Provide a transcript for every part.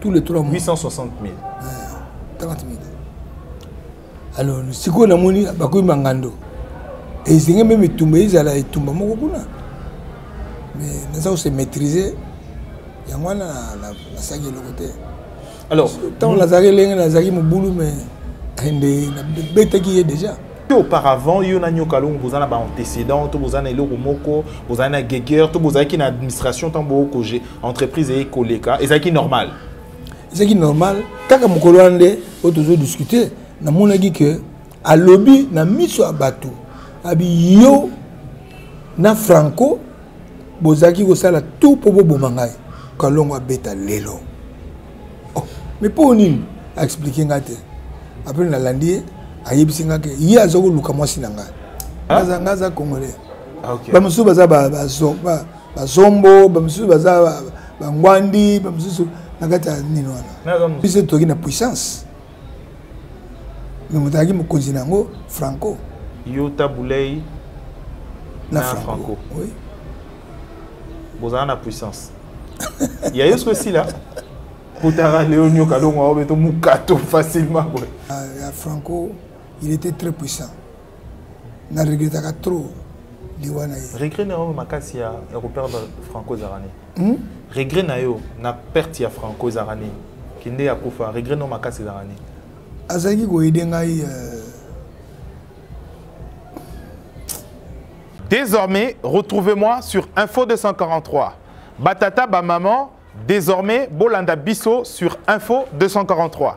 tous les trois mois 860 000 30 000 alors sikoyo namoni bakomi mangando ezenge meme etumba ezala etumba moko kuna mais naza kose maîtrise yango wana nasalaki eloko te alors ntango nazalaki elenge nazalaki mobulu mais nde nabetaki ye déjà te auparavant yo na nyoka longo boza na ba antécédent to boza na eloko moko boza na geger to bozalaki na administration ntango bookoge entreprise eye koleka ezalaki normal ezalaki normal kaka mokolo wana nde oyo tozodiscute namonaki ke alobi na miso ya bato abi yo na franco bozalaki kosala tout mpo boboma ngai kalongo abeta lelo oh, mais mpo nini aexplike nga te apres nalandi ye ayebisi nga ke ye aza koluka mwasi na ngai ah. nga aza congolais ah, bamosusu baza bazombo bamosusu baza bangwandi bamosusu na kati ya nini wana biso toki na puissance me moto azalaki mokonzi na yango franco yo tabulei na, na franco, franco. Oui. bozala na puissance ya yo soki esila kotaka leo nyoka longo yango beto mokato facilement boye ah, ya franco il était très puissant na regrettaka trop liwa na ye regret na yango makasi ya koperdre franco ezalaka nini hmm? regret na yo na perte ya franco ezalaka nini kinde akufa regret no makasi ezalaka nini azalaki koyede ngai euh, Désormais, retrouvez-moi sur Info 243. Batata, ba maman, désormais, Bolanda Bisso sur Info 243.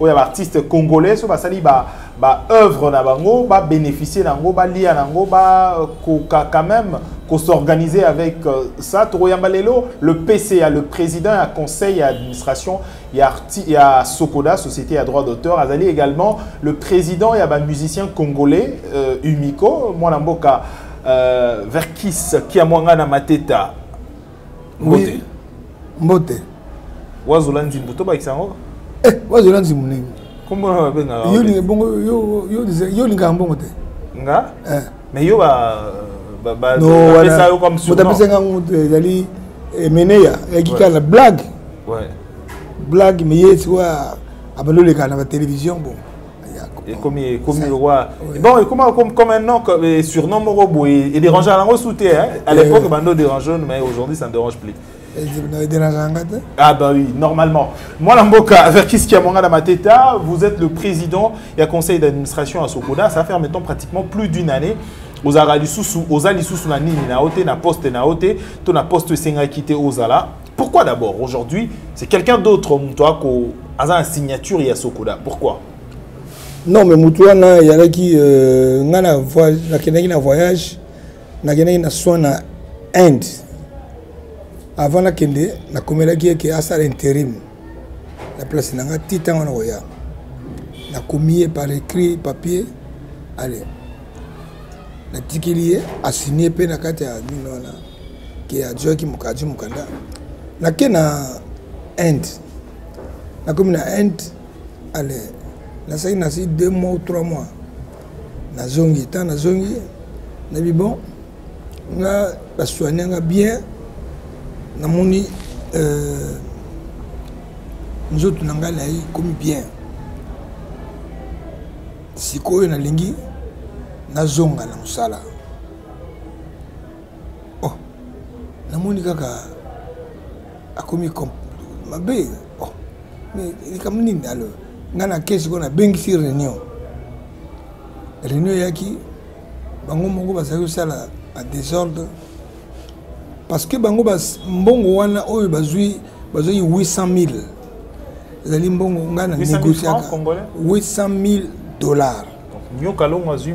oyo ya baartiste congolais so basali ba, ba œuvre na bango babénéficie na yango balia na yango bakoka quand même kosorganiser avec euh, ça tokoyamba lelo le pca le président ya conseil ya administration ya, ya sokoda société ya droit d'auteur azali également le président ya bamusicien congolais euh, umico mwana mboka euh, verkis kiamwanga na mateta mbote mbote wazola nzimbu tobakisa yango eh, wazola nzimbu nini kombo na babengaka yo olingaka mbongo te nga eh. mais yo bapesa yo comme surnom moto apesa nga moto ezali emeneya eh, ya kikala na blague blague mais ye sikoyo abandi olekana na batelevizio bongo ekomi ekomi lokola bon ekoma comme comme un nom comme surnom moko boye et dérange à lango souté hein à eh l'époque bando dérange mais aujourd'hui ça ne dérange plus Ah bah oui, normalement. Moi, Lamboka, avec Kiskia Mangala Mateta, vous êtes le président et à conseil d'administration à Sokoda. Ça fait maintenant pratiquement plus d'une année. ozalaka lisusu oza lisusu na nini na yo te na poste na yo te to na poste esengaki te ozala Pourquoi d'abord aujourd'hui c'est quelqu'un d'autre moto ako aza na signature ya Sokoda pourquoi Non mais moto wana yalaki euh, nga na voyage nakendaki na voyage nakendaki na soin na Inde avant nakende nakomelaki eke asala interim na place na nga ti ntango nakoya nakomi ye par écrit papier ale natikeli ye asigne mpe na kati ya mino wana ke azuaki azwi mokanda nake na inde nakomi na inde ale nasaki nasi deux mois ou trois mois nazongi ntan nazongi nayebi bon nga basoigne nga bien namoni euh, nzoto na ngai nayi komi bien sikoyo nalingi nazonga na mosala oh namoni kaka akomi mabe oh mais likambo nini alo ngai na kesi ko nabengisi réunion réunion eyaki bango moko bazali kosala a désordre parce que bango mbongo wana oyo bazwi bazwaki 800 000 ezali mbongo ngai na négociaka 800 000 dollars nyoka longo azwi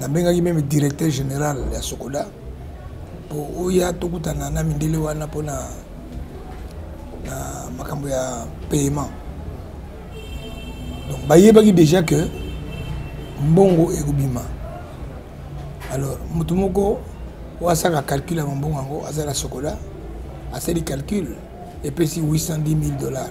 Nabengaki meme directeur general ya Socoda po oya tokutana na mindele wana pona na makambo ya paiement. Donc bayebaki dejà que mbongo ekobima. Alors moto moko oyo asalaka calcul ya mbongo yango aza na Socoda asali calcul epesi 810 000 dollars.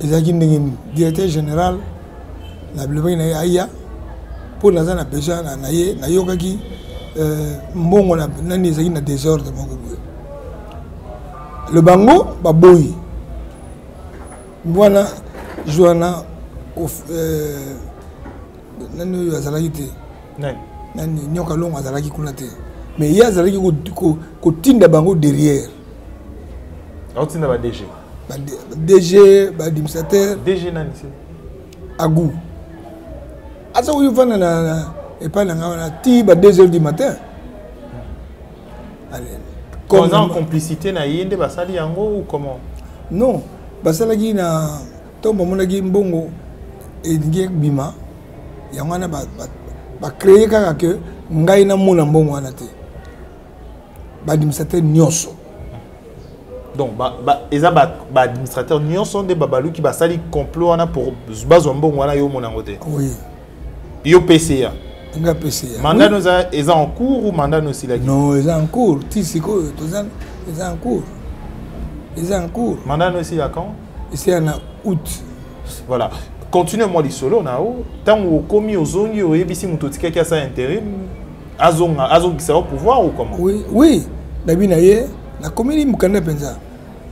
ezalaki ndenge nini directeur général na bilobaki na ye aya mpo naza na besoin na ye nayokaki euh, mbongo nani ezalaki na désordre moko boye le bango baboyi wana joana euh, nani oyo azalaki te nani nyoka longo azalaki kuna te mais ye azalaki kotinda bango derrière aotinda badg ba DG ba administrateur DG nani c'est Agou aza oyo vanda na epai na ngai wana ti ba 2 heures du matin oza en complicité na ye nde basali yango ou comment non basalaki na ntongo bamonaki mbongo elingi ebima yango wana bacreye kaka ke ngai namona mbongo wana te ba administrateur nyonso donc ba, ba, eza ba, ba administrateur nyonso nde babaluki basali complot wana pour bazwa mbongo wana yo omona yango te oui. yo pca nga pca mandat oui. no eza en cours ou mandat no osilaki non eza en cours ti sikoyo toza eza en cours eza en cours mandat no esila quand esila na août voilà continue mwa lisolo na yo ntango okomi ozongi oyebisi moto otikaki asala interim azonga azongisa yo pouvoir ou comment oui oui nabi na ye nakomeli mokanda mpenza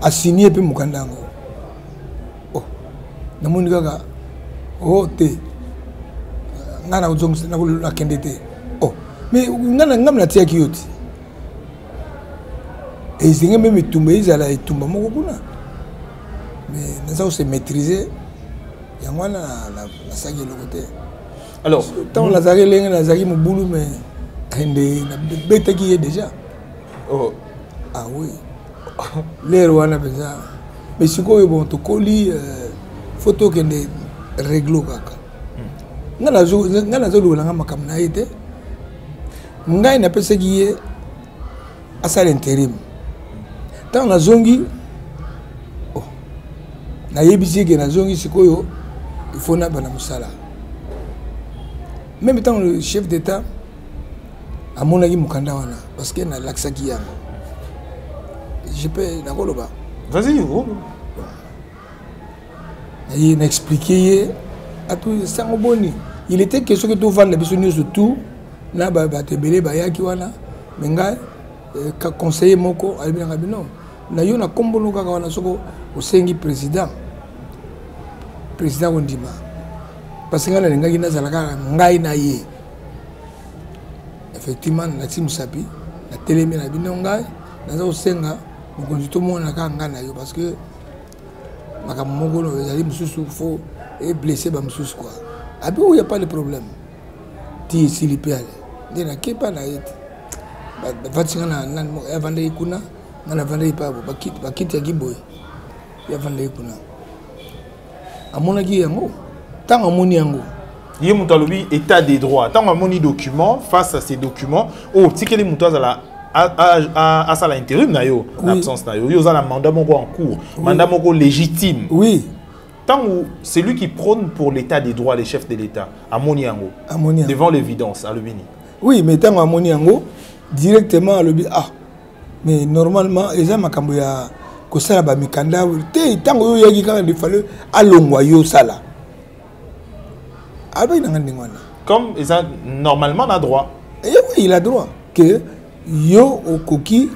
asinie mpe mokanda yango oh, namoni kaka o oh, te ngai nakozongisa nakende te o oh, mais ngai ngai natiyaki yo ti ezenge meme etumba ezala etumba moko kuna mais naza kose maîtrise yango wana nasalaki eloko te alors ntango nazalaki elenge nazalaki mobulu me nde nabetaki ye déjà oh. ah oui lere wana mpenza mais sikoyo bon tokoli euh, fo tokende reglo kaka hmm. ngai nazolukela ngai makambo na ye te ngai napesaki ye asala interim ntango nazongi oh, nayebisi eke nazongi sikoyo ifo naba na mosala meme ntango le chef d'état amonaki mokanda wana parce que nalakisaki yango je peux nakoloba vas-y naye na explike ye ato sango boni il était question ke tovanda biso nyonso tout na bato ebele bayaki wana me ngai eh, ka conseiller moko alobi nanga bino na yo na kombolo kaka wana soko osengi président président kondima parce ngai nalingaki nazala kaka ngai na ye effectivement nalati mosapi natelemi na bino ngai naza kosenga mokonzi tomonana kaka ngai na yo parce que makambo moko oyo ezali mosusu fo eblesse bamosusu kua abi oyo ya pas le problème ti esili mpe ale nde nakepa na ye te bavandisi nga na nani moko avandaki kuna nga navandaki pabo bakiti ya kiboye ye avandaki kuna amonaki yango ntango amoni yango ye moto alobi état de droit ntango amoni document face à ces documents oyo oh, otikeli moto azala asala intérim na yo na absence na yo yo oza na mandat moko en cours mandat moko légitime oui ntango celui qui prône pour l'état des droits les chefs de l'état amoni yango devant l'évidence alobi nini oui mais ntango amoni yango directement alobi ah mais normalement eza makambo ya kosala bamikanda te ntango yo oyaki kaka defale alongwa yo osala alobaki nanga ndenge wana comme eza normalement na droit eh oui il a droit que yo okoki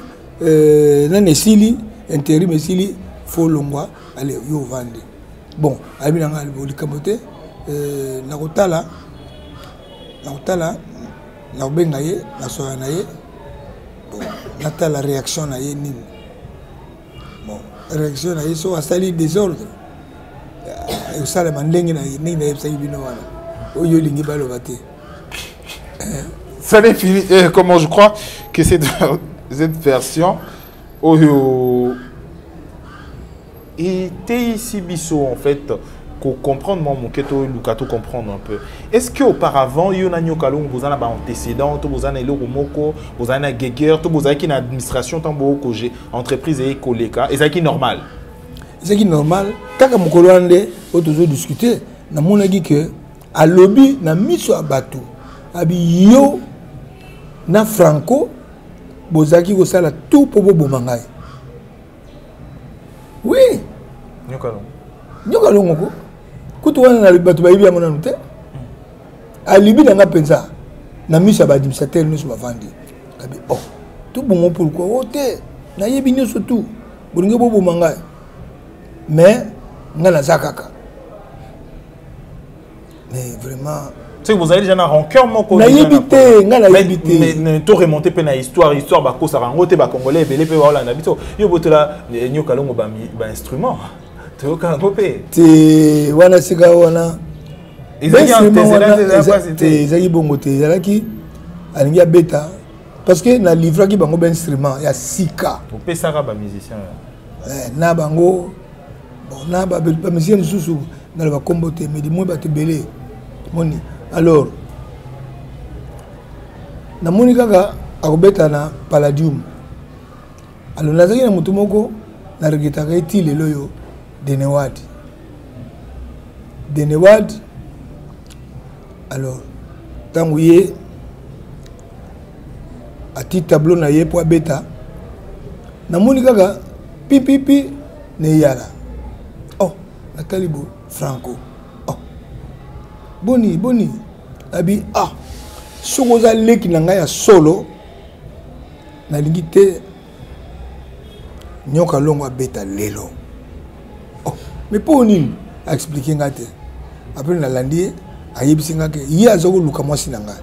euh, nani esili interim esili fo longwa ale yo ovandi bon alobi nanga likambo te euh, nakotala nakotala nakobenga ye nasoya na ye natala réaction na ye nini bon réaction na ye so asali désordre euh, ekosalama ndenge na ye ndenge nayebisaki bino wana oyo olingi baloba te euh. ça n'est fini eh, comment je crois que cette, cette version oyo eteyisi biso en fait ko comprendre mwa moke toluka to comprendre un peu est ce que auparavant yo na nyoka longo boza na baantécédent to boza na eloko moko bozali na geguer to bozalaki na administration ntango bookoge entreprise eye koleka ezalaki normal ezalaki normal kaka mokolo wana nde oyo tozodiscute namonaki ke alobi na miso ya bato abi yo na franco bozalaki kosala tout mpo boboma ngai oui nyoka longo nyoka longo ko kutu wana na bato bayebi yango nanu te alibi na nga mpenza na miso ya baadministrateur nyonso bavandi kabi o oh, tobongo pourkui o oh, te nayebi nyonso tu bolingi boboma ngai mais ngai naza kaka mais vraiment soki bozali deja na rancœur moko nayebi te ngai nayebi te to remonte mpe na histoire histoire bakosaka yango te bacongolais ebele mpe baolanda biso yo botola eh, nyoka longo bainstrument toyoka yango mpe te wana sika wana ezalaki bongo te ezalaki alingi abeta parce que na livraki bango bainstrument ya sika opesaka bamusicien eh, na bango bon na bamisie mosusu naloba nkombo te mais limoi bato ebele moni alors namoni kaka akobeta na palladium alors nazalaki na moto moko na regretaka ye ti lelo oyo denewad denewad alors ntango ye atii tableau na ye mpo abeta namoni kaka pipipi na eyala oh natali bo franco oh boni boni abi ah soki oza leki na ngai ya solo nalingi te nyoka longo abeta lelo oh mais mpo nini aexplike ngai te apres nalandi ye ayebisi ngai ke ye aza koluka mwasi na ngai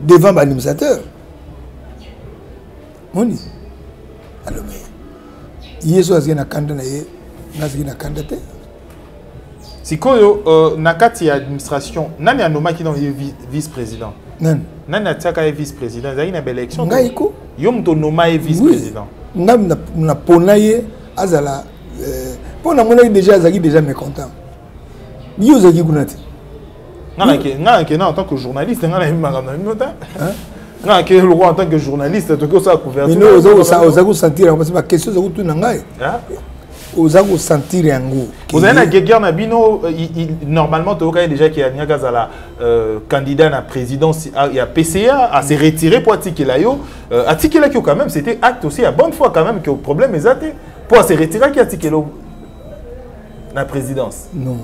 devant baadministrateur moni alobi yesu azali na kanda na ye nazali na kanda te sikoyo uh, na kati ya administration nani anomaki na ye vice président nani nani atiaka ye vice président ezalaki na baélection ngai ko yo moto onoma ye vice président ngai napona ye azala mpo euh, namonaki déjà azalaki déjà mécontent yo ozalaki kuna te nga nakenda en tant que journaliste nga nayebi makambo na bino te nga nakei lokola en tant que journaliste toki osala couvertureoza kosentir yango parce baquestion oza kotuna ngai oza kosentir yango ozali na guerguerre na bino euh, normalement toyokaki déjà ke alingaki azala euh, candidat na présidence ya pca ase retire mpo atikela yo euh, atikelaki yo quand même c'était acte aussi ya bonne fois quand même ke problème eza te mpo ase retiraki atikela na présidence non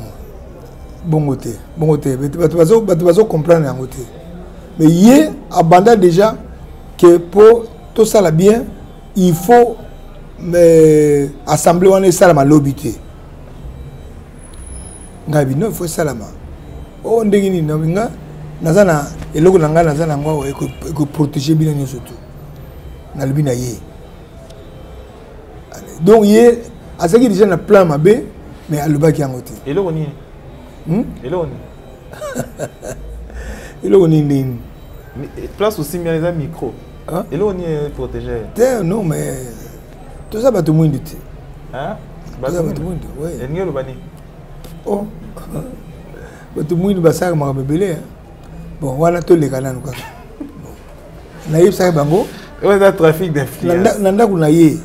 bongo te bongo te bato bazocomprendre yango te mais ye abanda déjà ke mpo tosala bien il faut mais assemblée wana esalama lobi te ngai bino il faut esalama o oh, ndenge nini na nga naza na eloko na ngai naza na yango awa ekoprotege bino nyonso tu nalobi na ye donc ye azalaki déjà na plan mabe mais alobaki yango te eloko nini hmm? eloko nini eloko nini nini eh, place osimbi wana eza micro eloko nini protégé te non mais toza bato mwindu te toza bato mwindu elingi oloba nini oh. bato mwindu basalaka makambo ebele bon wana toleka nanu kaka nayebisaki bango eza trafic d'influence na ndako na ye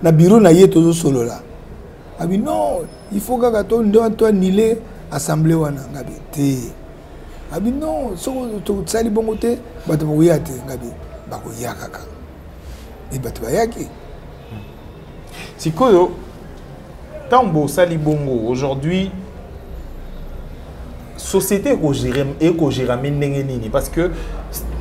na biro na ye tozosolola abi non il faut kaka to ndo to anile assemblée wana ngabi te abi non soko tosali bongo te bato bakoya te ngabi bakoya kaka e bato bayaki sikoyo ntango bosali bongo aujourd'hui société ekogérame ndenge nini parce que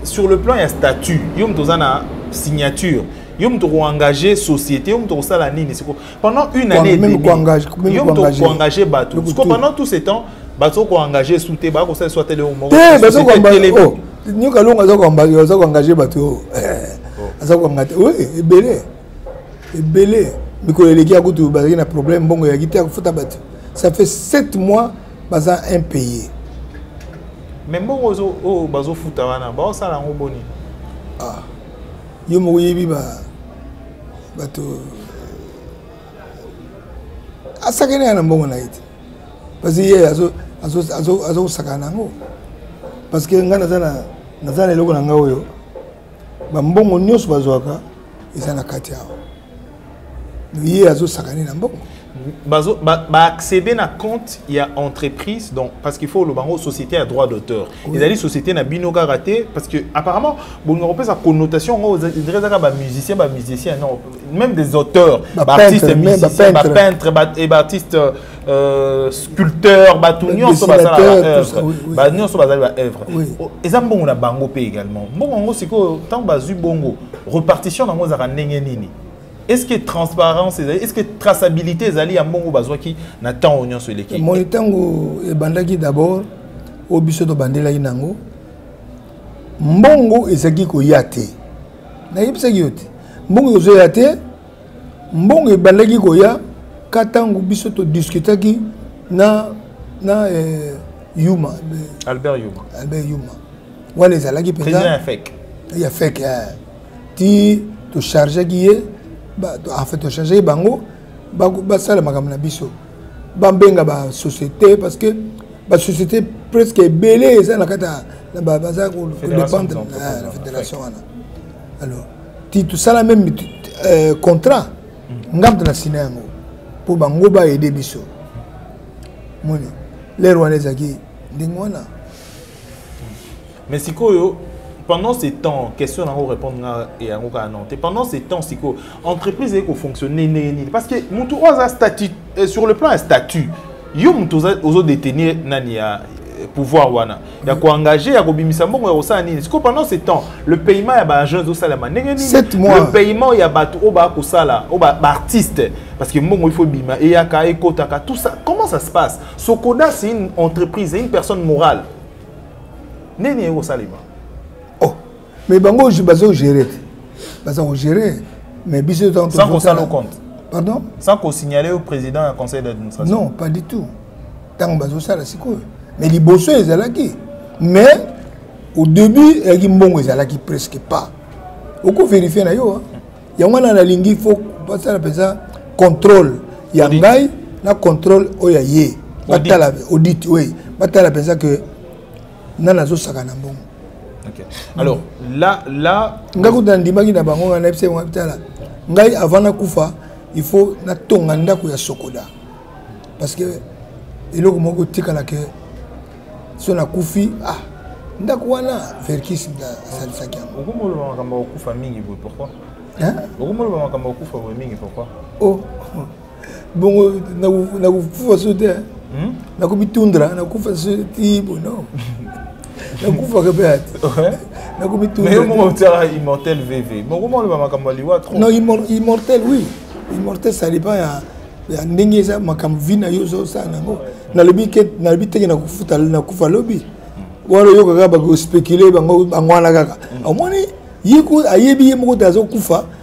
sur le plan ya statut yo moto oza na signature yo moto koengage société yo moto kosala nini siko pendant une année yo moto koengage bato siko pendant tout ce temps bato koengage su te baa kosala so atele moko oh, nyoka longo aza koengage bato aza koengage ebele ebele mikolo eleki ya kutu bazalaki na problème mbongo eyaki te ya kofuta bato ça fait 7 mois baza impayé mais mbongo oyo oh, bazofuta wana baosala yango boni ah. yo moko oyebi bato asakani ya na mbongo na ye te parce ye azokosakana na yango parce que ngai naza na eloko na ngai oyo bambongo nyonso bazwaka eza na kati awa ye azosakane na mbongo baaccéder na compte ya entreprise donc parce qu'il faut oloba yango société ya droit d'auteur oui. ezali société na bino kaka te parce que apparemment bolinga kopesa connotation yango dire ezaka bamusicien bamusicien non même des auteurs baartiste musicien bapeintre et baartiste ba Euh, sculpteur bato nyonso basala baœuvre ba nyonso bazali baœuvre oh, eza mbongo na bango mpe également mbongo yango sikoyo ntango bazwi bongo repartition na yango ezalaka ndenge nini est ce que transparence ezali est ce que traçabilité ezali ya mbongo bazwaki na ntango nyonso eleki moi ntango ebandaki d'abord oyo biso tobandelaki na yango mbongo ezalaki koya te nayebisaki yo te mbongo ezoya te mbongo ebandaki koya ka ntango biso todiskutaki na na eh, yuma eh, albert yuma albert yuma wana ezalaki mpenza ya feke ya feke eh. ti tochargeki ye enfin tochargeki bango basala makambo na biso babenga basociété parce que basociété presque ebele eza na kati baza kodépendre na fédération wana alors ti tosala meme euh, contrat nga moto na sina yango mpo bango baede biso moni lere wana ezalaki ndenge wana mais sikoyo pendant ce temps question nango répondre nga yango kaka non te pendant ce temps sikoyo entreprise eye kofonctionne ndenge nini parce que motu oyo aza statut euh, sur le plan ya statut yo moto ozo détenir nani ya euh, pouvoir wana ya koengage ya kobimisa mbongo ya kosala nini sikoyo pendant ce temps le paiement ya baagent ezosalama ndenge nini le paiement ya bato oyo bakosala oyo baartiste parce que mbongo il faut ebima eyaka ekotaka tout ça comment ça se passe sokoda c'est une entreprise c'est une personne morale nini ekosalema mais bango bazo gérer te baza kogérer mais biso sans kosala compte pardon sans kosignale au président ya conseil d'administration non pas du tout ntango bazosala sikoyo mais liboso ezalaki mais au début eyaki mbongo ezalaki presque pas okoverifie na yo yango wana nalingi fo basala mpenza contrôle ya ngai na contrôle oyo ya ye batala audit oui batala mpenza que nani azosaka na mbongo Okay. Alors là, là. Nga kuta ndimaki na bango nga na epse nga bitala. Ngai avant na kufa, il faut na tonga ndako ya sokoda. Parce que eloko moko tikala ke so na kufi ah ndako wana verkis asalisaki yango okomoloba makambo ya kokufa mingi boye pourkoi okomoloba makambo ya kokufa boye mingi pourkoi o oh, oh. bongo nakofufa so te hmm? nakomitundra nakufa so ti bono nakufaka mpe ati nakomitundra immortel vv bokoma oloba makambo ya liwa trop non immortel oui immortel ça dépend ya ya ndenge eza makambo vi na yo ozosala nango nalobi ke nalobi teke nakofuta nakufa lobi hmm. wana oyokaka bakospecule bango wana kaka hmm. omoni ye ayebi ye moko te azokufa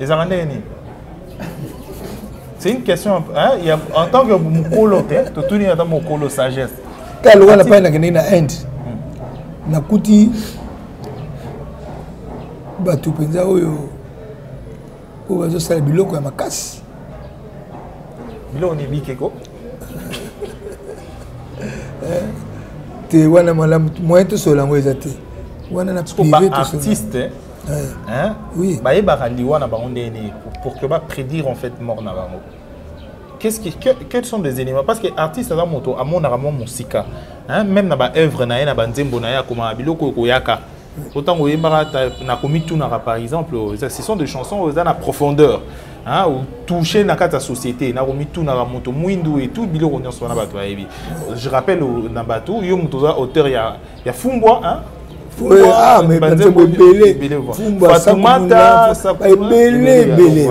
ezalaka ndenge nini c'est une question hein, y a, en tant que mokolo te totuni ata mokolo sagesse ta lokola na pai nakendeki na inde hmm. nakuti bato mpenza oyo oyo bazosala biloko ya makasi biloko ni bikeko eh, te wana malamu moyen tosolola yango eza te wana na prive tosolola eh. hein? oui. bayebaka liwa na bango ndenge nini pour que baprédire en fait mort na bango qu'est-ce qui, que, quels sont des éléments parce que artiste aza moto amonaka mwa mosika hein? même na baœuvre na ye na banzembo na ye akomaka biloko ekoyaka po ntango oyembaka na komitunaka par exemple ce sont des chansons oyo eza na profondeur hein, touche na kati ya société na komitunaka moto mwindu et tout biloko nyonso wana bato bayebi je rappelle na bato yo moto oza auteur ya ya fumbwa hein? Ah, banzembo ebele fumbasatumata ebele ebele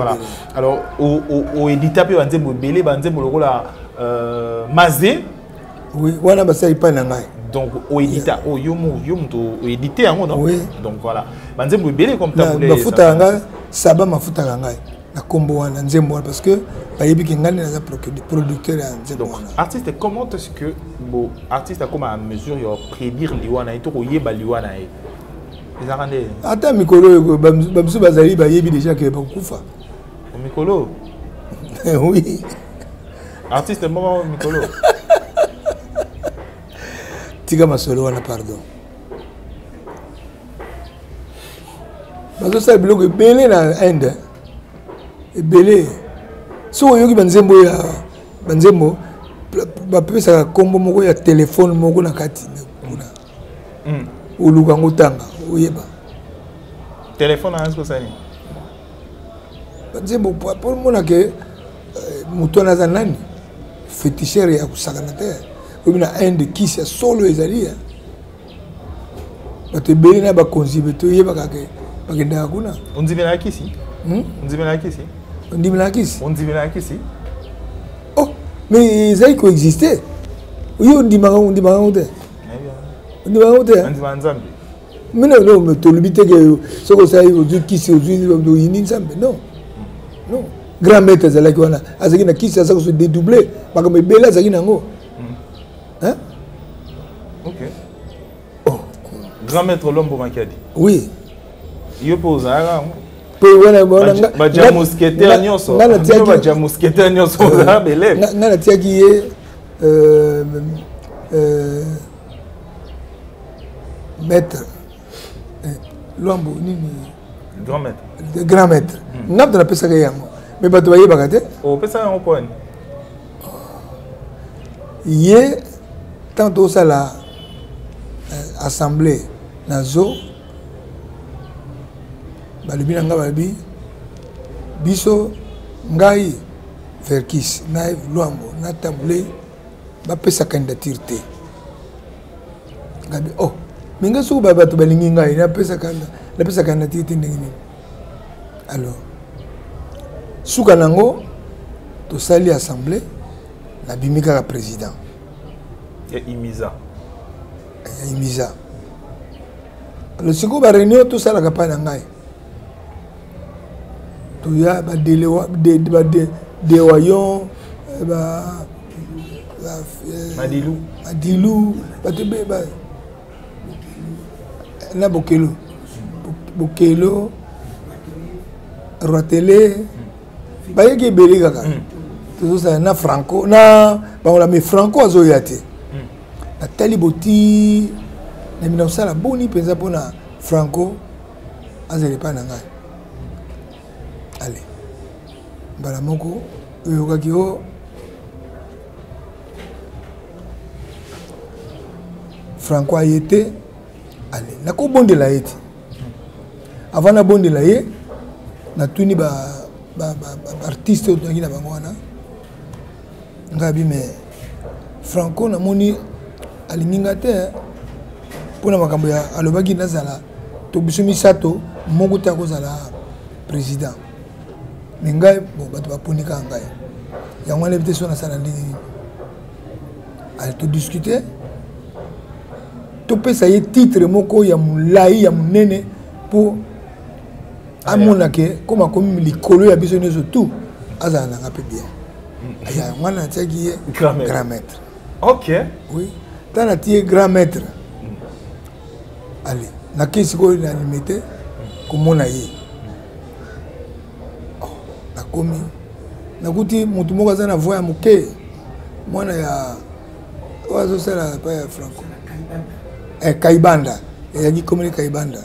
alors oedita mpe banzembo ebele banzembo lokola euh, maze oui wana basali epai na ngai donc oedita oyo oh, yo moko yo moto oedite yango no donc voilà banzembo ebele comme bafuta ya ngai saba mafutaka ngai na kombo wana nzembo wana parce que bayebi ke ngai naza producteur ya nzembo wana artiste comment est ce que bo artiste akoma à mesure ya prédire liwa na ye to koyeba liwa na ye ezalaka nde ata mikolo oyo bamosusu bazali bayebi déjà ke bakokufa mikolo oui artiste moko mikolo tika masolo wana pardon bazosala biloko ebele na inde ebele soki oyoki banzembo ya banzembo bapesaka nkombo moko ya telefone moko na kati kuna hmm. oluka yango otanga oyeba telefone anasi kosali banzembo mpo omonake eh, moto wana aza nani fetichere ya kosakana te oyebi na inde kisi ya solo ezali ya eh. bato ebele na bakonzi be toyebaka ke bakendaka kuna ondimelaka kisi hmm? ondimelaka kisi ondimelaka kisi ondimelaka kisi oh mais ezali koexiste oye ondimaka ondimaka yango te ondimaka yango te andimaka nzambe mino no tolobi te ke soki osali ozwi kisi ozwi oyini nzambe non non grand maître azalaki wana azalaki na kisi aza koso dédouble makambo ebele azalaki na yango hein? ok oh. grand maître lombo makiadi oui yo mpe ozalaka yango baja mousquetaire nyonso baja mousquetaire nyonso ozala beleve nga natiaki ye euh, euh, maître eh, lwambo nini grand maître grand maître hmm. nga moto napesaka ye yango me bato bayebaka te opesa yango poni ye ntango tokosala eh, assemblée na zo balobi na ngai balobi biso ngai verkis na luambo na tambule bapesa candidature te gabi oh mais ngai soki bato balingi ngai napesaka napesaka na tiki te ndenge nini alors suka na yango tosali assemblée nabimi kaka président ya imisa ya imisa alors sikoyo baréunion tosalaka mpa na ngai toya badewayon badilu badilu bato ebele ba na bokelo bokelo roitele bayeki ebele kaka hmm. tozosala na franco na bangola me franco azoya te hmm. natali boti na mina kosala boni mpenza mpona franco azala epai na ngai ale mbala moko oyokaki o oh, franco aye te ale nakobondela ye te avant nabondela ye natuni baartiste oyo tozalaki na bango wana ngabi me franco namoni alingi nga te eh. mpo na makambo ya alobaki nazala to biso misato moko te akozala président me ngai bo bato baponi kaka ngai yango wana ebite so nasala ndenge nini ale todiscute topesa ye titre moko ya molai ya monene mpo amona ke comme akomi likolo ya biso nyonso tout azala nanga mpe bien aya yango wana natiaki ye grand maître ok oui ta nati ye grand maître ale nakei sikoyo na limete komona ye oh, nakomi nakuti motu moko aza na voi ya moke mwana ya oyo azosala epai ya franco eh, kaibanda ezalaki komeli kaibanda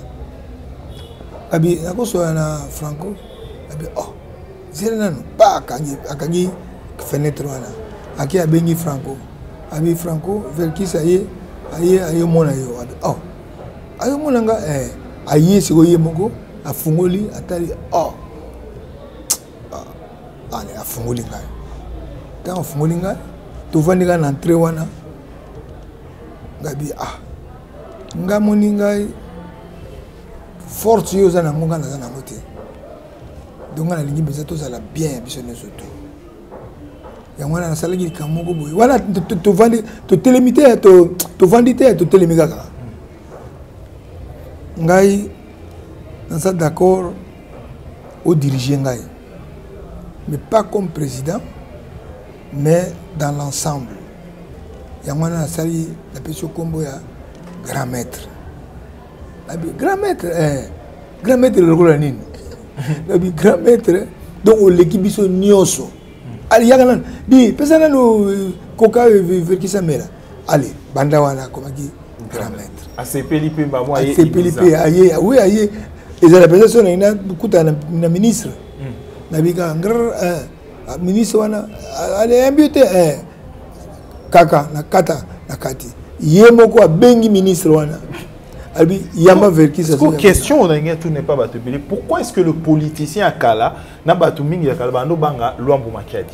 abi nakosola na franco abi oh zela nanu pa akangi fenêtre wana ake abengi franco abi franco verkis aye aye ayomona yo abi oh ayomona nga eh, aye sikoyo ye moko afungoli atali oh ah, ale afungoli ngai ntango afungoli ngai tovandi ngai na entre wana ngai bi ah ngai moni ngai force yo oza nango ngai naza nango te donc ngai nalingi mpenza tozala bien ya biso nyonso to yango wana nasalaki likambo moko boye wana tovandi totelemi te tovandi te totelemi kaka ngai naza d'accord odirige ngai mais pas comme président mais dans l'ensemble yango wana nasali napesi yo nkombo ya grand maître grand maître eh, grand maître lokola nini nabi grand maître donc oleki biso nyonso aliyaka nano di pesa nano koka verkisa mela ale banda wana akomaki grand maître asepeli mpe mbamo asepeli mpe aye oui aye ezala mpenza so naye nakutana na ministre hmm. nabika ngr eh, ah, ministre wana ah, aleyambi te eh. kaka na kata na kati ye moko abengi ministre wana alobi yamba verkis question na ngai tune epa bato ebele pourquoi est ce que le politicien ya kala na bato mingi ya kala bando banga lwambo makiadi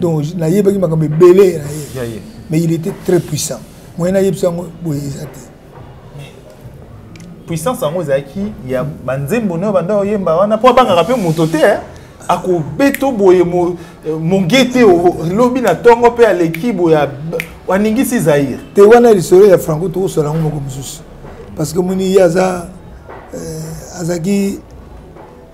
donc nayebaki makambo ebele na ye mais il était très puissant moyen nayebisa yango boye eza te puissance yango ezalaki ya banzembo nayo banda oyemba wana mpo abangaka mpe moto te eh. akobeta boye eh, mongete lobi na ntongo mpe aleki boye aningisi zaire te wana lisolo ya franco tokosola yango moko mosusu parce que moni ye aza eh, azalaki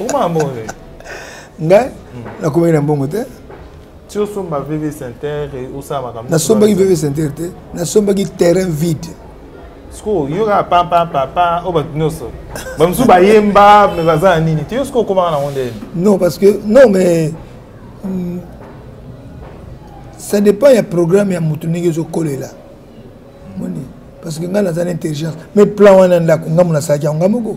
okoma na mbongo te ngai hmm. nakomaki na mbongo te ti osomba vv center osala makambo nasombaki vv center te nasombaki terrain vide sikoyo yoka pampapapa oyo bato nyonso bamosusu bayemba me baza na nini te yo sikoyo okomaka nango nde non parce que non mais hmm, ça dépend ya programme ya motu ndenge ezokolela moni parce que ngai naza na intelligence mais plan wana ndako ngambo nasalaki yango ngai moko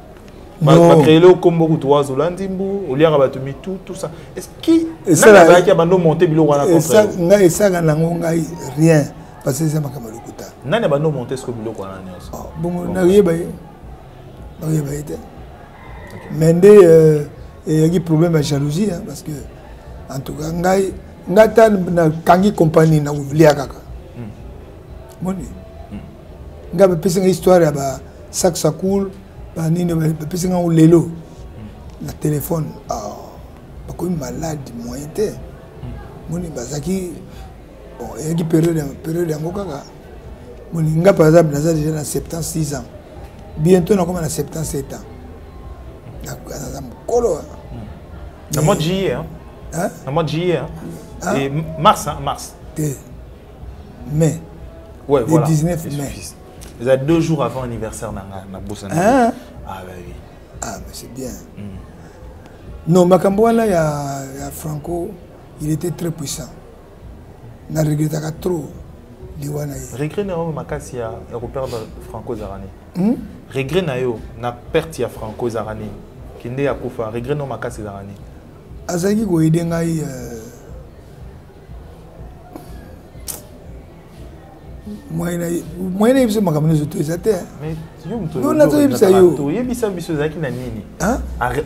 bakreele okombo kutu wazola ndimbu oliaka bato mitu tout ça eskiazalaki ya bando monte biloko wana ngai esaka nango ngai rien parce que eza makambo ya lokuta nani ya bando monte siko biloko wana nyonso oh, bongo nakoyeba ye nakoyeba ye te mais nde euh, eyaki problème ya jalousie parce que en tout cas ngai ngai ata nakangi compagnie nakolia kaka hmm. moni hmm. nga bapesi nga histoire ya ba saksa cool banini bapesi nga lelo na telefone ah, bakomi malade moyen te moni bazalaki bon eyaki periode yango kaka moni nga par exemple naza deja na 76 ans bientôt nakoma na 77 ans naza mokolo ah. na mois de juillet hein? Hein? na mois de juillet hein? Hein? Et mars hein? mars te mai ouais, le voilà. 19 mai eza deux jours avant anniversaire na nga na bosana hein? ah, bah, oui. ah mais c'est bien mm. non makambo wana ya, ya franco il était très puissant na regrettaka trop liwa na ye regret na yo makasi ya, ya koperdre franco ezalaka nini hmm? regret na yo na perte ya franco ezalaka nini kende ya kufa regret na yo makasi ezalaka nini azalaki koyede ngai euh, moyen ayebisa makambo nyonso to eza te nazoyebisa yoyebisa biso ezalaki na nini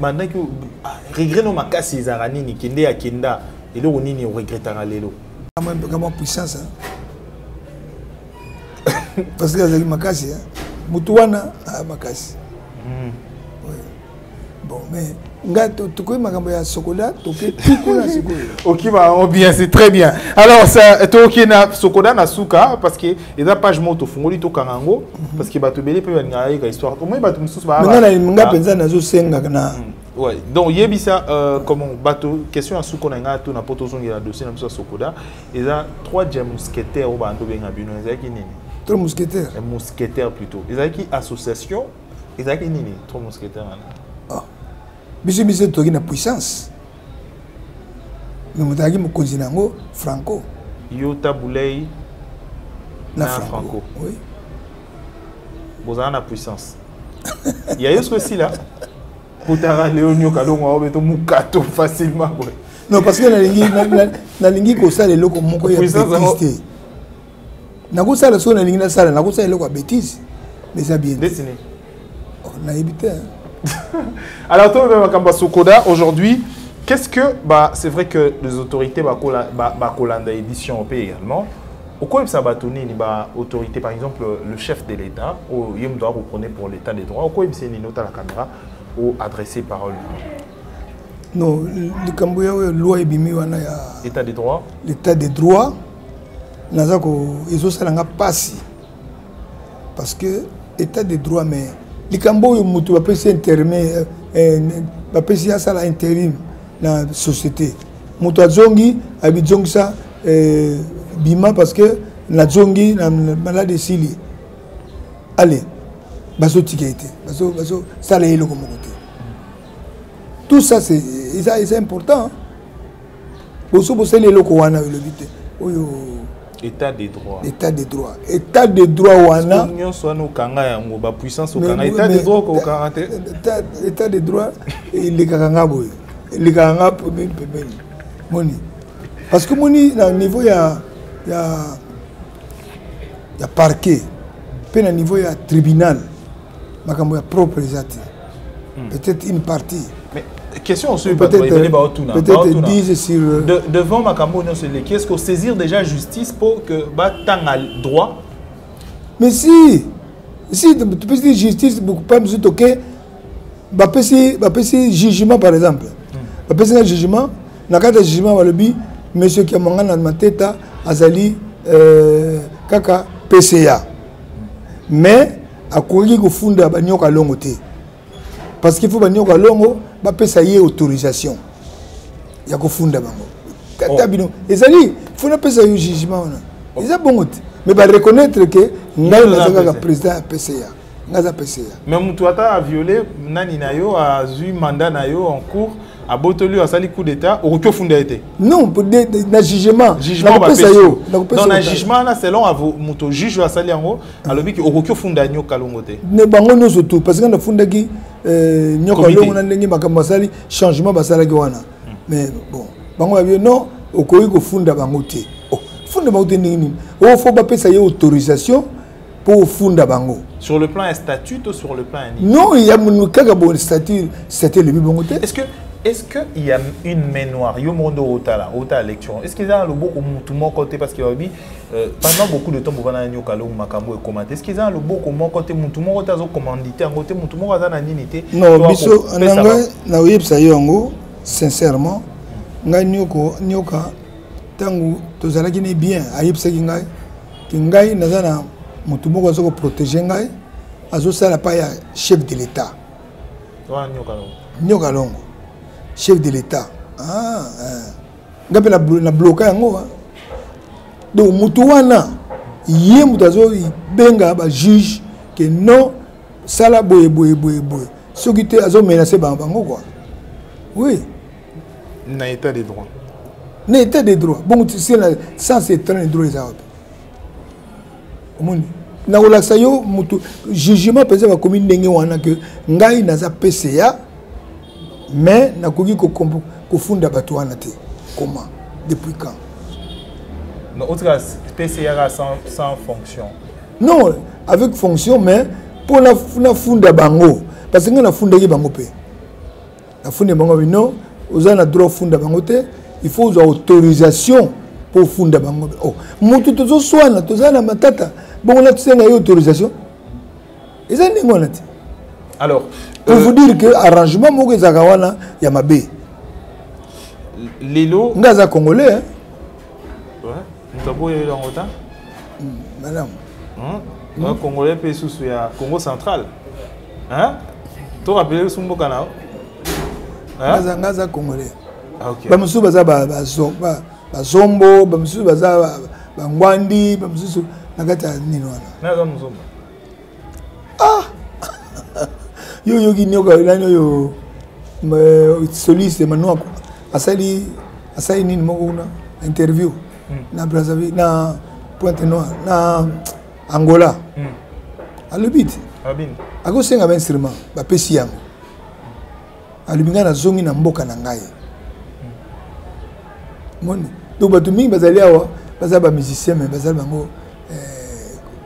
bandaki ah, regret no makasi ezalaka nini kende ya kenda eloko nini oregretaka lelo kama puissance parce que azali makasi motu wana ah, makasi hmm. bon mais nga tokoki makambo ya sokoda toke tukuna sikoyo okima yango bien c'est très bien alors ça toke na sokoda na suka parce que eza page moko tofungoli tokanga yango mhm. parce que bato ebele mpe balingaka yeka histoire omoni bato mosusu nga mpenza nazosengaka na mm. Ouais. Donc yebisa euh, comment bateau question à suko nanga tout na poto zongi la dossier na biso sokoda et là trois jam mousquetaires au bando benga bino ezaki nini trois mousquetaires un mousquetaire plutôt ezaki association ezalaki nini trop mousquetaire wana ah. biso biso toki na puissance me moto azalaki mokonzi na yango franco yo tabulei na, na franco oui. bozala na puissance ya yo soki esila kotaka leo nyoka longo yango beto mokato facilement boye non parce que nalingi nalingi kosala eloko moko ya petise te nakosala soki nalingi nasala nakosala eloko ya bétise mais eza bien oh, nayebi te alors toyeba makambo ya sokoda aujourd'hui qu'est-ce que bah, c'est vrai que les autorités bakolanda ba, ba, ba édition mpe également okoyebisa bato nini baautorité par exemple le chef de l'état oyo ye moto akoprenait pour l'état des droits okoyebisa nini otala caméra o adresse parole non likambo ya oyo loi ebimi wana ya état des droits l'état des droits naza ko ezosala nga mpasi parce que état de droit mais likambo oyo moto bapesi interme eh, eh, bapesi asala interim na société moto azongi abizongisa eh, bima parce que nazongi na malade esili ale bazotika ye te bazosala ye eloko moko te tout ça eza important boso bosali eloko wana elobi te oyo état de droit état de droit état de droit wana nyonso wana okanga yango bapuissance okanga état de droit okokanga te état de droit elekaka nga boye elekaka nga pembeni pembeni moni parce que moni na niveau ya ya ya parquet mpe na niveau ya tribunal makambo ya propre eza te hmm. peut-être une partie mais question osuki bato ebele baotuna baotuna euh, devant makambo nyonso eleki est ce que osaisir déjà justice mpo que batanga droit mais si si topesi justice pa mosusu toke bapesi bapesi jugement par exemple hmm. bapesi nga jugement na kati ya jugement balobi monsieur kiamangana mateta azali euh, kaka pca mais akoki kofunda banioka longo te parce qu'il faut banioka longo bapesa ye autorisation ya kofunda bango kata oh. bino ezali fo napesa yo jugement wana oh. eza bongo te mais bareconnaitre ke ngai naza kaka président ya pca ngai aza pca mais motu ata aviole nani na yo azwi mandat na yo en cours abotoli oyo asali coup d'état okoki ofunda ye te non na jugement nakopesa yo na jugement wana selon moto juge oyo asali yango alobi ki okoki ofunda nyoka kalongo te ne bango nyonso tu parce que nafundaki euh, nyoka kalongo na ndenge makambo basali changement basalaki wana hmm. mais bon bango babi non okoki kofunda bango te oh, funda bango te ndenge nini o oh, fo bapesa ye autorisation mpo ofunda bango sur le plan ya statut to sur le plan ya nini non ya kaka bo statut statut elobi bango te est ce que est-ce qu'il y a une main noire Yo mondo otala, otala lecture. Est-ce qu'il y a le beau ou moutou moko parce qu'il a dit Euh, pendant beaucoup de temps bovanda na nyoka longo makambo ekoma te eskiza na loboko moko te motu moko te azokomandite yango te motu moko aza na nini te non biso na ngai nakoyebisa yo yango sincèrement ngai nyoko nyoka ntango tozalaki ne bien ayebisaki ngai ke ngai naza na motu moko aza koprotege ngai azosala pa ya chef de l'état nyoka longo chef de l'état ah, ah. nga mpe na bloka yango hein. donc motu wana ye moto azobenga bajuge ke non sala boye boye boye boye soki te azomenase bango bango kua oui na état de droit na état de droit bongo tisela sans état de droit eza wapi omoni nakolakisa yo motu jugement mpenza bakomi ndenge wana ke ngai naza pca mais nakoki kofunda bato wana te comment depuis quand non otika pcra sans, sans fonction non avec fonction mais mpo nafunda bango parce que ngai nafundaki bango mpe nafundi bango bino oza na droit ofunda bango te il faut ozwa autorisation mpo ofunda bango oh, motu tozoswana toza na matata bongo natusenga ye autorisation eza ndenge wana te alors pour euh, vous dire que arrangement moko ezalaka wana ya mabe lelo nga aza congolais hein? moto aboyeli yango ta hmm, malamu hmm? hmm? congolais mpe susu ya congo central to rappele biso mboka na yo nga aza congolais ah, bamosusu baza bazo bazombo bamosusu baza bangwandi bamosusu na kati ya nini wana ah! yo oyoki nioka elani oyo soliste manuako asali asali nini moko kuna interview hmm. na brazzaville na pointe noire na angola hmm. alobi te akosenga bainstrument bapesi yango alobi ngai nazongi na mboka na ngai moni donc bato mingi bazali awa baza bamusicien mai bazali bango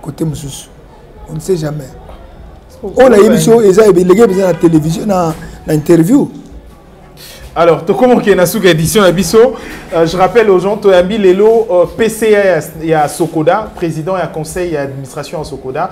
kote eh, mosusu on ne sait jamais oyo nayebi so eza elenge eza na télévision na interview Alors, Tokomo qui est na suka édition à biso, euh, je rappelle aux gens Toyambi Lelo euh, PCA ya Sokoda, président et conseil d'administration à Sokoda,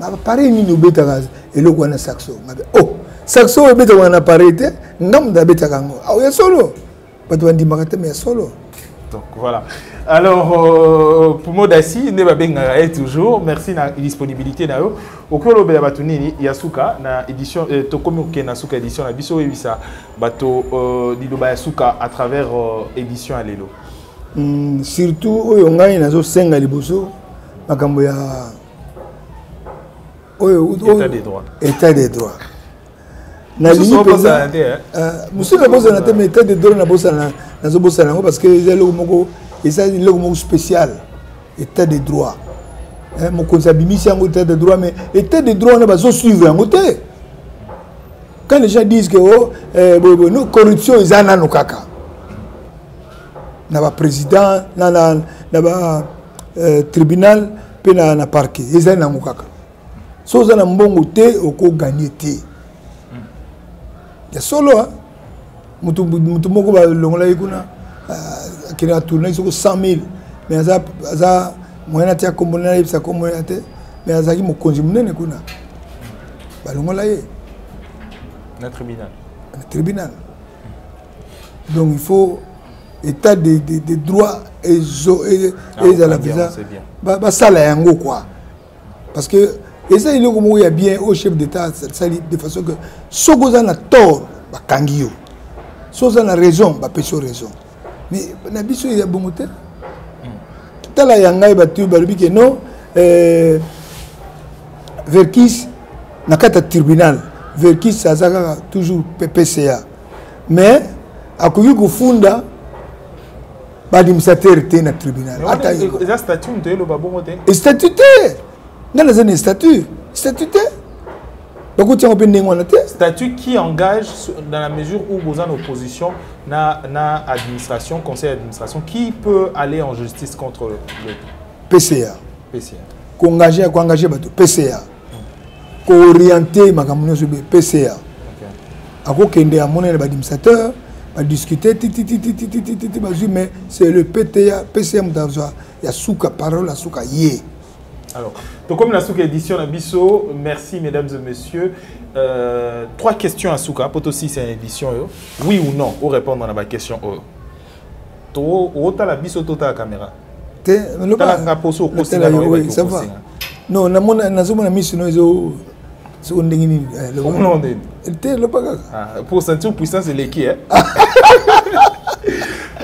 bapareil nini obetaka eloko wana saxo ngabe o oh, saxo oyo ebetaka na pareil te nga moto abetaka yango ao ah, ya solo bato bandimaka te ma ya solo donc voilà alors euh, pumo dasi nde babengaka ye toujours merci na disponibilité na yo okoki olobela bato nini ya suka na édition euh, tokomi kokende na suka édition na biso oyebisa bato euh, liloba ya suka à travers euh, édition ya lelo mm, surtout oyo ngai nazosenga liboso makambo ya oyo état de droit état de droit nalingi mpenza mosusu hein. euh, nabosana te mais état de droit nabosana nazobosana yango parce que eza eloko moko eza eloko moko spécial état de droit hein, mokonzi abimisi yango état de droit mais état de droit wana bazosuivre yango te quand les gens disent que oh, eh, boye boye no corruption eza nano kaka na baprésident na, na, na ba euh, tribunal mpe na, na parquet ezali nango kaka so oza na mbongo te okoganye te ya solo motu, motu moko balongolaki kuna euh, akende atournaki soko 100 000 mais aza, aza moyen ati akombo nde nayebisa nkombo ya te mais azalaki mokonzi monene kuna balongola ye na tribunal na tribunal donc il faut état de, de, de droit ezala ah, mpenza basala yango quoi parce que eza eloko moko ya bien oyo chef d'état sali de façon que soki oza na tort bakangi yo soki oza na raison bapesi yo raison mais na biso ya bongo te hmm. tala ya ngai bato balobi ke non euh, verkis na kati ya tribunal verkis aza kaka toujours ppca mais akoki kofunda baadministrateur te na tribunal statut te ngai naza na statut statut te bakotia yango mpe ndenge wana te statut qui engage dans la mesure où boza na opposition na, na administration conseil d'administration qui peut aller en justice contre le pca pca koengage koengage bato pca kooriente makambo nyonso be pca akokende amona na badimisateur badiscute tititititititi bazwi mais c'est le pta pca moto azwa ya suka parole ya suka ye alors tokomi na suka édition na biso merci mesdames et messieurs euh, trois questions ya suka mpo tosisa ya édition oyo oui ou non orépondre na baquestion oyo otala biso totala kamera te nga poso okosela non namona nazomona misu no ezo soko ndenge nini eh, te loba kaka ah, pour sentir puissance eleki eh?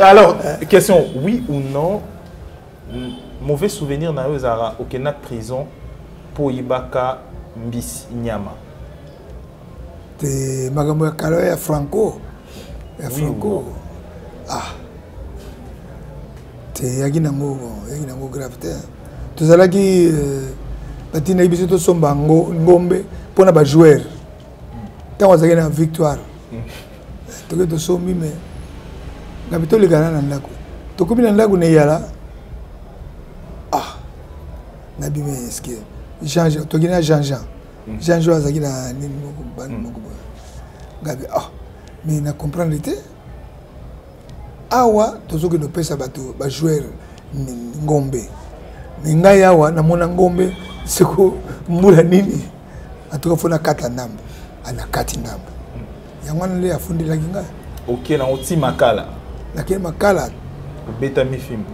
alors question oui ou non mauvais souvenir na yo ezalaka okenda prison mpo oyibaka mbisi nyama te makambo ya kala ya franco ya franco ah te eyaki nango eyaki nango grave te tozalaki euh, batindaki biso tosomba ngombe mpo na bajoueur ntango azalaki na victoire mm. toke tosombi me ngabi tolekana na ndako tokomi na ndako na eyala ah nabimi eske jean jean tokei na jean jean mm. jean jour azalaki na nini moko bani mm. moko boye ngabi ah mais na comprendre te awa tozokende kopesa bato bajoueur ngombe me ngai awa namona ngombe seko mbula nini atuka fo nakata ndambo anakati ah, ndambo yango wana nde afundelaki ngai oke nango ti makala nakei makala obetami fimbo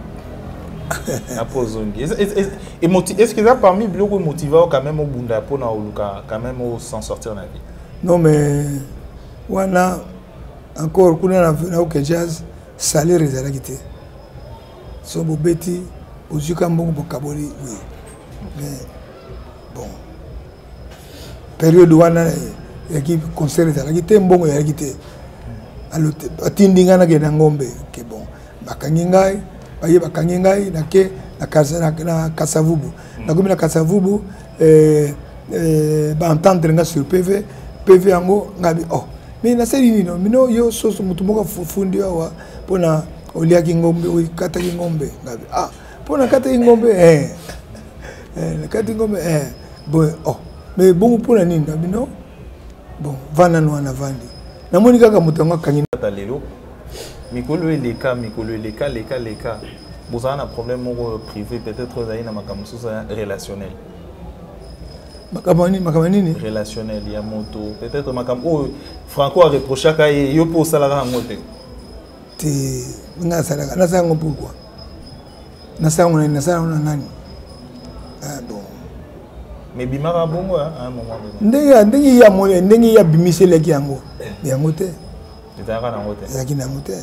apo ozongi est ce que eza parmi biloko emotive ao quand même obunda mpona oluka quand même osan sortir na vie non mais wana encore kuna na vena oke jazz salaire ezalaki te so bobeti ozwika mbongo bokaboli oui mais bon periode wana yaki concert ezalaki te mbongo ezalaki te atindi ngai nakende na ngombe ke bon bakangi ngai baye bakangi ngai nake na kasavubu mm. nakomi na kasavubu eh, eh, baentendre ngai sur pv pv yango ngai bi oh mais nasali nino mino yo soso motu moko afundi awa mpona oliaki ngombe okataki ngombe ngai bi ah mpo nakataki ngombe eh. Eh, nakati ngombe eh. boye oh. mais bongo mpo na nini na bino bon vanda no wana vandi namoni kaka moto yango akangi ata lelo mikolo eleka mikolo eleka leka leka bozala na problème moko privé peut-être ozali na makambo mosusu relationnel makambo nini makambo nini relationnel ya moto peut-être makambo oyo franco areprochaka ye yo mpo osalaka yango te te nga asalaka nasala yango pourkui nasala ngo nani nasala ngo na nani ah, bon mebimaka bongo ndenge ndenge ye amoni ndenge ye abimiselaki yango yango te ezalaka nango te ezalaki nango te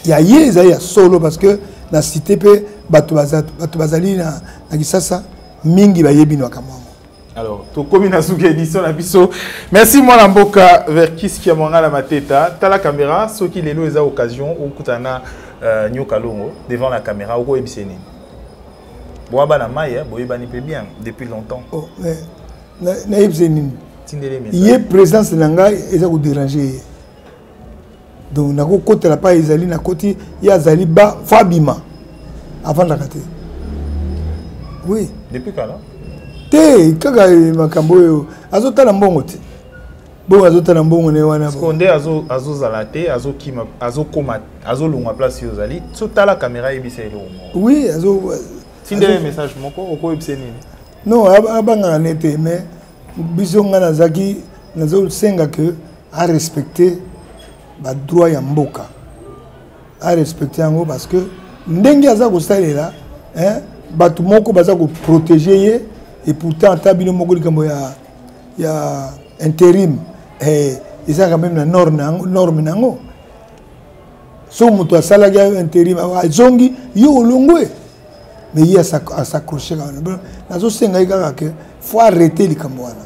ya ye ezali ya solo parce que na site mpe bato bazali na kisasa mingi bayebi na makambo yango alors tokomi na suka édition na biso merci mwana mboka verkis kiamwanga na mateta tala caméra soki lelo eza occasion okutana na euh, nyoka longo devant la caméra okoyebisa nini boa bana mai eh, boyebani mpe bien depuis longtemps oh, eh, nayebisa nini ye présence na ngai eza koderange ye donc nakokotela pa ezali nakoti ye azali ba fo abima afandaka te oui depuis kala te kaka eh, makambo oyo azotala mbongo te bongo azotala mbongo na ye wana nde azozala te azokima azokoma azolongwa place yo ozali sotala kamera ayebisa eloko moko oui tindele message moko okoyebisa nini non abangaka ne te mais biso ngai nazalaki nazosenga ke a respecter ba droit ya mboka a respecter yango parce que ndenge aza kosalela hein bato moko baza ko protéger ye et pourtant ata bino moko likambo ya ya interim eh, eza quand même na norme na yango norme na yango so moto asalaki ayo interim azongi yo olongwe mais ye asakroche kaka nazosengai kaka ke faut arrete likambo wana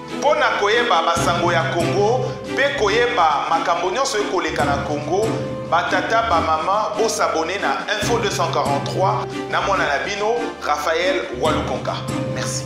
Mpo na koyeba basango ya Congo pe koyeba makambo nionso ekoleka na Congo, ba tata ba maman bo s'abonner na info 243 na mwana na bino Raphaël Walukonka. Merci.